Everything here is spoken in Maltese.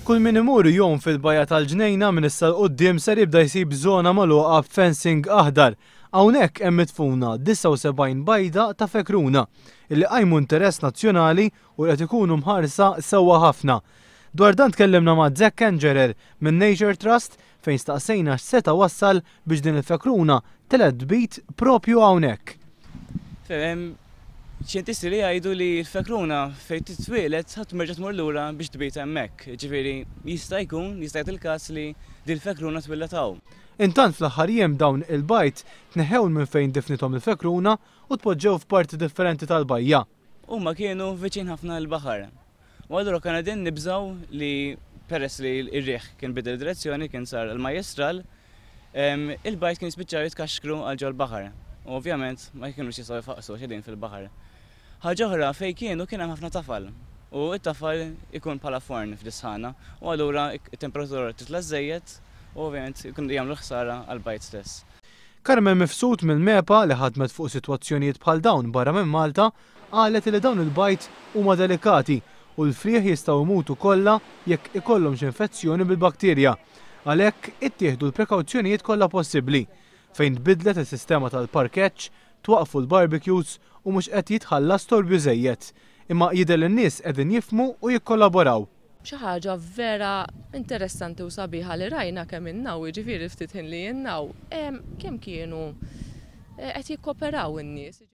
Kull min imur jgħum fil-bajja tal-ġnejna minn issa 'l quddiem ser jibda jsib żona magħluqa b'fencing aħdar. Hawnhekk hemm midfuna 79 bajda ta' fekruna illi qajmu interess nazzjonali u li qed ikunu mħarsa sewwa ħafna. Dwar dan tkellimna ma' Zach Kangerer minn Nature Trust fejn staqsejna x'seta' wassal biex din il-fekruna telgħet tbid proprju hawnhekk. Hemm xjentisti li jgħidu li l-fekruna fejn titwieled ħadd m'erġa' tmur lura biex tbid hemmhekk, jiġifieri jista' jkun, jista' jagħti l-każ li din il-fekruna twieldet hawn. Intant fl-aħħar jiem dawn il-bajd tneħħew minn fejn difnithom il-fekruna u tpoġġew f'parti differenti tal-bajja. Huma kienu viċin ħafna l-baħar u allura konna qegħdin nibżgħu li peress li r-riħ kien bidel direzzjoni kien sar il-majjistral, il-bajt kien jispiċċaw jitkaxkru għal ġol-baħar u ovvjament ma kienux jistgħu jfaqqsu għax qegħdin fil-baħar. Ħaġa oħra fejn kienu kien hemm ħafna tafal u t-tafal ikun bħala forn fl-isħana u allura t-temperatura titla' żżejjed u ovvjament jagħmlu ħsara għall-bajt stess. Carmen Mifsud mill-MEPA li ħadmet fuq sitwazzjonijiet bħal dawn barra minn Malta qalet li dawn il-bajd huma delikati u l-frieħ jistgħu jmutu kollha jekk ikollhom xi infezzjoni bil-bakterja. Għalhekk ittieħdu l-prekawzjonijiet kollha possibbli. Fejn tbiddlet is-sistema tal-parkeġġ, twaqqfu l-barbecues u mhux qed jitħalla storbju żejjed. Imma jidher li n-nies qegħdin jifhmu u jikkollaboraw. Xi ħaġa vera interessanti u sabiħa li rajna kemm ilna hawn, jiġifieri l-ftit ħin li ilna hawn, kemm kienu qed jikkoperaw in-nies.